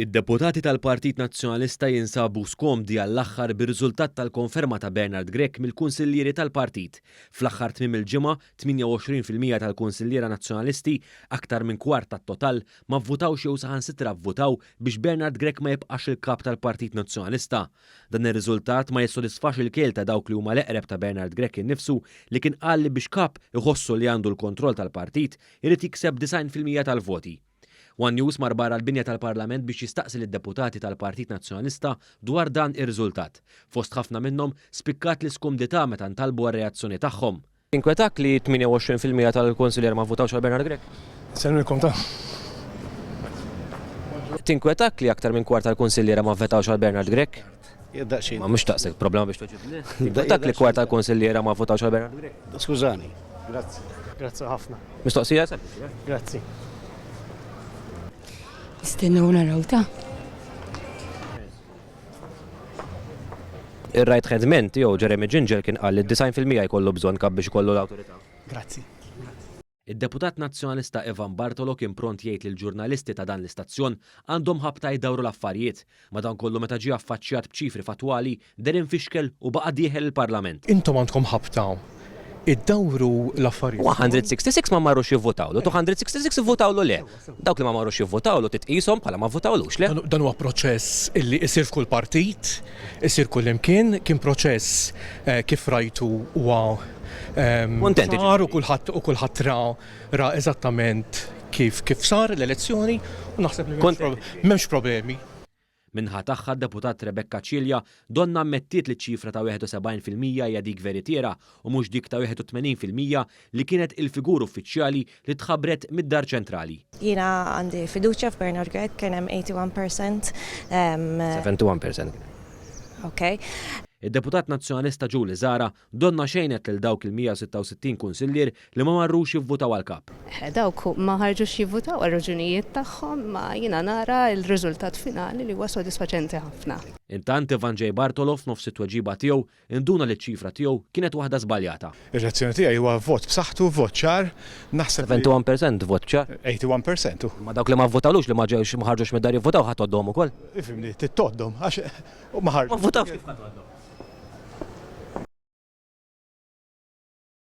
Id-deputati tal-Partit Nazzjonalista jinsabu skomdi għall-aħħar bir-riżultat tal-konferma ta' Bernard Grech mill-kunsillieri tal-partit. Fl-aħħar tmiem il-ġimgħa, 28 fil-mija tal-kunsilliera Nazzjonalisti, aktar minn kwart tat-total, ma vvutawx jew saħansitra vvutaw biex Bernard Grech ma jibqax il-Kap tal-Partit Nazzjonalista. Dan ir-riżultat ma jissodisfax il-kiel ta' dawk li huma l-eqreb ta' Bernard Grech innifsu li kien qal li biex Kap iħossu li għandu l-kontroll tal-partit Irid jikseb 90 fil-mija tal-voti. One News mar barra l-binja tal-Parlament biex jistaqsi lid-deputati tal-Partit Nazzjonalista dwar dan ir-riżultat. Fost ħafna minnhom, spikkat l-iskumdità meta ntalbu għar-reazzjoni tagħhom. Jinkwetak li 28 fil-mija tal-kunsillier ma vvutawx għal Bernard Grech? Nsellmilkom ta. Tinkwetak li aktar minn kwart tal-kunsilliera ma vvetawx għal Bernard Grech? Ma mhux daqshekk problema biex togħġibni. Dak li kwart tal-kunsilliera ma vvotawx għal Bernard Grech. Skużani. Grazzi. Grazzi ħafna. Mistoqsija sempliċi. Eh? Grazzi. Nistennew naraw ta'. Ir-rajt ħedment jew Jeremy Ginger kien qal li d-design fil-mija jkollu bżonn kab biex ikollu l-awtorità. Grazzi. Id-Deputat Nazzjonalista Ivan Bartolo kien pront jgħid li l-ġurnalisti ta' dan l-istazzjon għandhom ħabta jdawru l-affarijiet. Madankollu meta ġie affaċċjat b'ċifri fattwali, deher imfixkel u baqa' dieħel il-Parlament. Intom għandkom ħabta iddawru l-affarijiet. 166 ma marrux jivvotawlu, 266 ivvotawlu le. Dawk li ma marrux jivvotawlu titqishom bħala ma vvotawlux, le? Dan huwa proċess illi jsir f'kull partit, isir kullimkien, kien proċess kif rajtu huwa ċar u kulħadd ra ra eżattament kif sar l-elezzjoni u naħseb li m'hemmx problemi. Min-naħa tagħha d-Deputat Rebecca Cilia donnha ammettiet li ċ-ċifra ta' 71 fil-mija hija dik veritiera u mhux dik ta' 81 fil-mija li kienet il-figur uffiċjali li tħabbret mid-Dar Ċentrali. Jiena għandi fiduċja f'Bernard Grech, kien hemm 81 per cent. 71 per cent kien hemm. Okej. Id-Deputat Nazzjonalista Julie Zahra Donnha xejnet lil dawk il-166 kunsillier li ma marrux jivvutaw għall-Kap. Dawk ma ħarġux jivvutaw għal raġunijiet tagħhom imma jiena nara l-riżultat finali li huwa sodisfaċenti ħafna. Intant Ivan J. Bartolo f'nofs it-tweġiba tiegħu induna li ċ-ċifra tiegħu kienet waħda żbaljata. Ir-reazzjoni tiegħi huwa vot b'saħħtu, vot ċar. Naħseb li. 71 percent vot ċar. 81 percent. Imma dawk li ma vvotawlux, li ma ġewx, ma ħarġux mid-dar jivvutaw ħa tgħoddhom ukoll? Ifhimni, trid tgħoddhom għax u ma ħarġux.